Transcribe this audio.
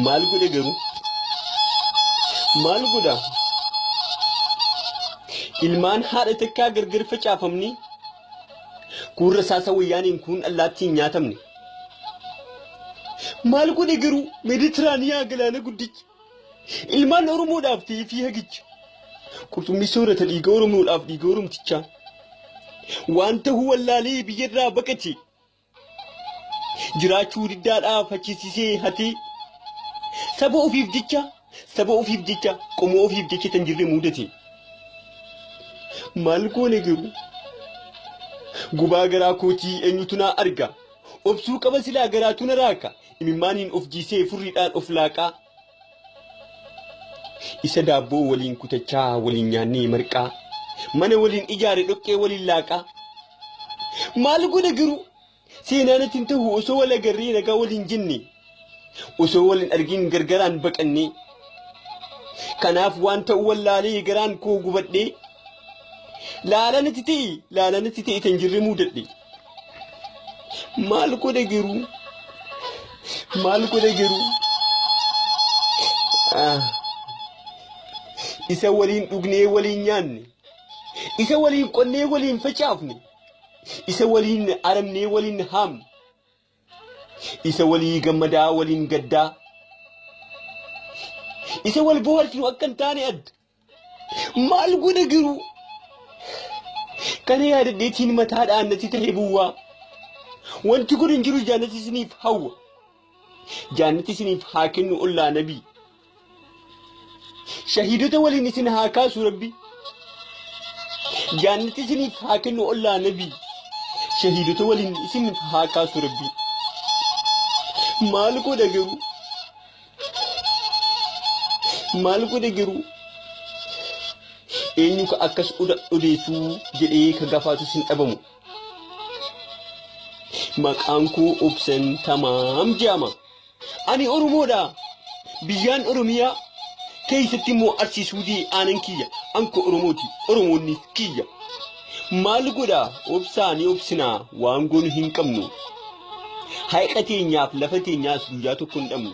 maal godhe garuu maal godha ilmaan haadha takkaa gargar facaafamni kuun rasaasa wayyaaniin kuun allaattiin nyaatamne maal godhe garuu meeditiraaniyaa galaana guddicha Ilmaan Oromoodhaaf ta'ee fiihagicha. Qurxummii soorata dhiiga Oromoodhaaf dhiiga Oromtichaa. Waan ta'uu wallaalee biyyarraa baqate. Jiraachuu diddaadhaaf hachisiisee hatee. Saba ofiif jecha, saba ofiif jecha, qomoo ofiif jecha tan jirre muudate. Maal goone garuu? Gubaa garaa kootii eenyutu naa arga? Obsuu qaba silaa garaatu na raaka. Imimmaaniin of jiisee furriidhaan of laaqaa Isa daabboo waliin kutachaa waliin nyaannee marqaa Mana waliin ijaare dhoqqee waliin laaqaa Maal godha garuu seenaanatti hin ta'u osoo wal agarree nagaa waliin jenne Osoo wal hin argin gargaraan baqannee Kanaaf waan ta'u wallaalee garaan koo gubadhee Laalanatti ta'e laalanatti ta'e tan jirre muudadhe. maal godhe garuu maal godhe garuu Ah. isa waliin dhugnee waliin nyaanne isa waliin qonnee waliin facaafne isa waliin aramnee waliin haamne isa walii gammadaa waliin gaddaa isa wal bohaarsinu akka hin taane adda Maal godha garuu? Kana yaadadheetiin mataa dhaannatti ta'ee bu'aa. Wanti kun hin jiru jaannatti isiniif hawwa. Jaannatti isiniif haa kennu ollaa nabii. Shahiidota waliin isin haa kaasu rabbi. Jaannatti isiniif haa kennu ollaa nabii. Shahiidota waliin isin haa kaasu rabbi. Maal godha garuu? maal godhe garuu eenyu ka akkas oda odeessuu jedhee ka gafaatus hin dhabamu. Maqaan koo obsan tamaam jedhama. Ani Oromoodha. Biyyaan Oromiyaa keessatti immoo Arsii Suudii aanan kiyya. Anko Oromooti. Oromoonni kiyya. Maal godha obsaa ni obsinaa waan goonu hin qabnu. Haiqa teenyaaf lafa teenyaas guyyaa tokko hin dhabnu.